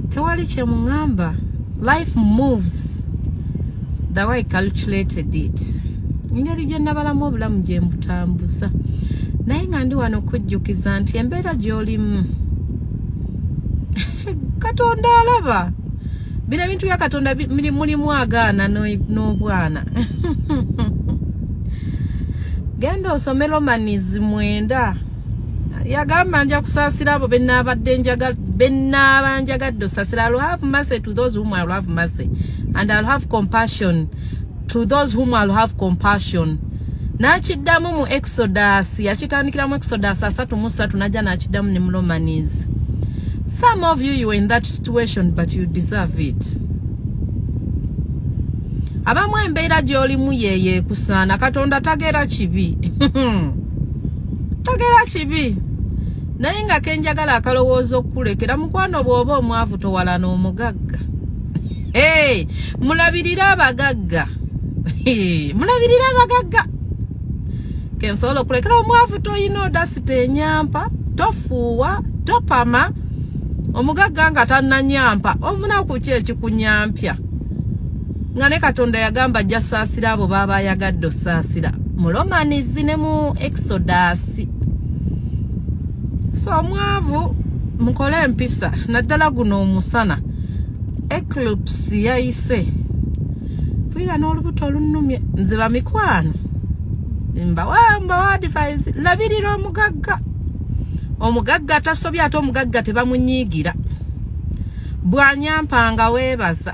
tewali kyemungamba life moves the way calculated it ngeri gye nabalamu obulamu gye mbutambuza naye nga ndi wano okujjukiza nti embeera gy'olimu katonda alaba bino ebintu bya katonda mulimu agaana n'obwana genda osome lomanizi mwenda yagamba nja kusaasira abo bennaabadde njaga bennaaba njagadde osaasira i'll have mercy to those whom i'll have mercy and i'll have compassion to those whom i'll have compassion n'akiddamu mu exodus yakitandikira mu exodus asatu mu satu najja n'akiddamu ne mulomanies some of you you were in that situation but you deserve it abamu embeera gy'olimu yeyeekusaana katonda tageera kibi togera kibi naye nga kenjagala akalowooza okukulekera mukwano bw'oba omwavu towalana omugagga hey, mulabirire abagagga hey, mulabirire abagagga kensobola okulekera omwavu toyina odasita enyampa tofuuwa topama omugagga nga tananyampa omunaku ki ekikunyampya nga ne katonda yagamba ajja saasira abo baaba ayagadde osaasira mu romanis ne mu exodus so omwavu mukole empisa naddala guno omusana eclipse yayise mpulira n'olubuto olunumye nze bamikwano mbawa mbawa advise labirira omugagga omugagga atasobya ate omugagga tebamunyiigira bwanyampanga weebaza